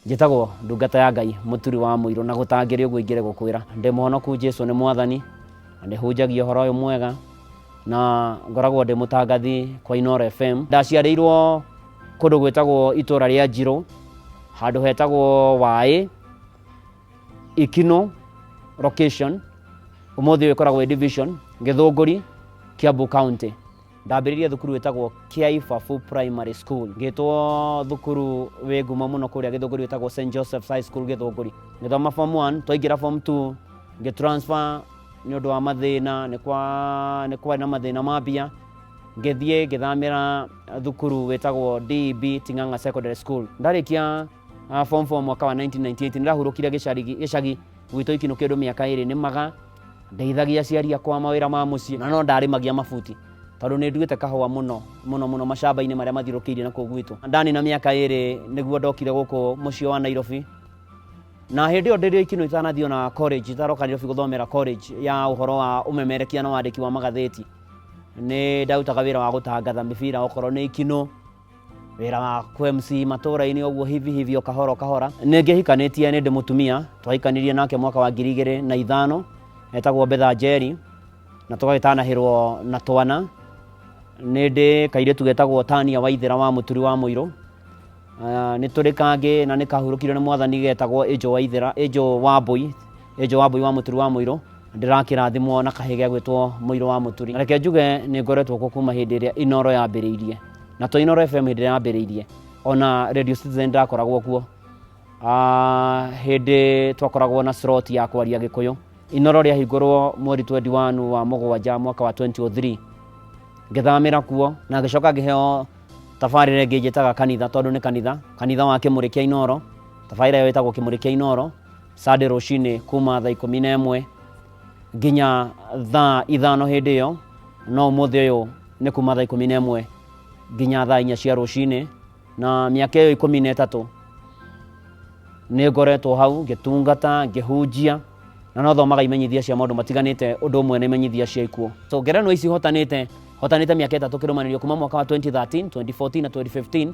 njĩtagwo ndungata ya ngai mũturi wa mũirũ na gũtangĩrĩ ũguo ingĩre gũkwĩra ndĩ mũhonoku jesu nĩ mwathani na nĩ hunjagia ũhoro ũyũ mwega na ngoragwo ndĩ mũtangathi kwa inoro fm ndaciarĩirwo kũndũ gwĩtagwo itũra rĩa njirũ handũ hetagwo waĩ ikino location ũmũthĩ ũyũ ĩkoragwo ĩ division gĩthũngũri kiambu county ndambĩrĩria thukuru wĩtagwo kiaibabu primary school ngĩtwo thukuru wĩ ngumo mũno kũrĩa gĩthũngũri wĩtagwo st josephs high school gĩthũngũri ngĩthoma form 1 twaingĩra form 2 ngĩtransfer nĩ ũndũ wa mathĩna nĩ kwa- nĩ kwarĩ na mathĩna ma mbia ngĩthiĩ ngĩthamĩra thukuru wĩtagwo deb ting'ang'a secondary school ndarĩkia Ah, form 4 mwaka wa 1998 nĩrahurũkire gĩcari gĩcagi gwitũ ikinũ kĩndũ mĩaka ĩrĩ nĩmaga ndeithagia aciari akwa mawĩra ma mũciĩ na no ndarĩmagia mabuti tondũ nĩ nduĩte kahũa mũno mũno mũno macamba-inĩ marĩa mathiũrũkĩirie na kũu gwitũ ndanina mĩaka ĩrĩ nĩguo ndokire gũkũ mũciĩ wa Nairobi na hĩndĩ ĩyo ndĩrĩ ikinũ itanathiĩ ona college itaroka Nairobi gũthomera college ya ũhoro wa ũmemerekia na wandĩki wa magathĩti nĩ ndarutaga wĩra wa gũtangatha mĩbira okorwo nĩ ikinũ wĩra wa kũ MC matũũra-inĩ ũguo hivi hivi o kahora kahora. Nĩ ngĩhikanĩtie nĩ ndĩ mũtumia, twahikanirie nake mwaka wa ngiri igĩrĩ na ithano, etagwo Betha Njeri, na tũgagĩtanahĩrwo na twana. Nĩ ndĩ kairĩtu getagwo Tania Waithĩra wa Mũturi wa Mũirũ. Uh, nĩ tũrĩ kangĩ na nĩ kahurũkire nĩ mwathani getagwo Ĩnjũ Waithĩra, Ĩnjũ Wambũi ĩ joabu wa mũturi wa mũirũ ndĩrakĩrathimwo na kahĩ gĩa gwĩtwo mũirũ wa mũturi na reke njuge nĩ ngoretwo kuo kuma hĩndĩ ĩrĩa inoro yambĩrĩirie na to inoro fm hĩndĩ ĩrĩa yambĩrĩirie ona radio citizen ndakoragwo kuo Ah, hĩndĩ twakoragwo na slot ya kwaria gĩkũyũ inoro rĩahingũrwo mweri 21 wa mũgwanja mwaka wa 2003 ngĩthamĩra kuo na ngĩcoka ngĩheo tabarĩra ĩngĩ njĩtaga kanitha tondũ nĩ kanitha kanitha wa kĩmũrĩ kĩa inoro tabarĩra ĩyo ĩtagwo kĩmũrĩ kĩa inoro Sunday rũcinĩ kuma thaa ikũmi na ĩmwe nginya thaa ithano hĩndĩ ĩyo no ũmũthĩ ũyũ nĩ kuma thaa ikũmi na ĩmwe nginya thaa inya cia rũcinĩ na mĩaka ĩyo ikũmi na ĩtatũ nĩ ngoretwo hau ngĩtungata ngĩhunjia na no thomaga imenyithia cia maũndũ matiganĩte ũndũ ũmwe na imenyithia cia ikuũ so ngerenwa ici hotanĩte hotanĩte mĩaka ĩtatũ kĩrũmanĩrio kuma mwaka wa 2013 2014 na 2015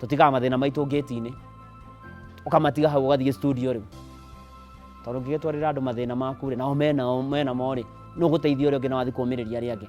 tũtigaga mathĩna maitũ ngĩti-inĩ ũkamatiga hau ũgathiĩ studio rĩu tondũ ũngĩgĩtwarĩra andũ mathĩna maku rĩ nao menao menamo rĩ nũ gũteithia ũrĩa ũngĩ na wathiĩ kũmĩrĩria arĩa angĩ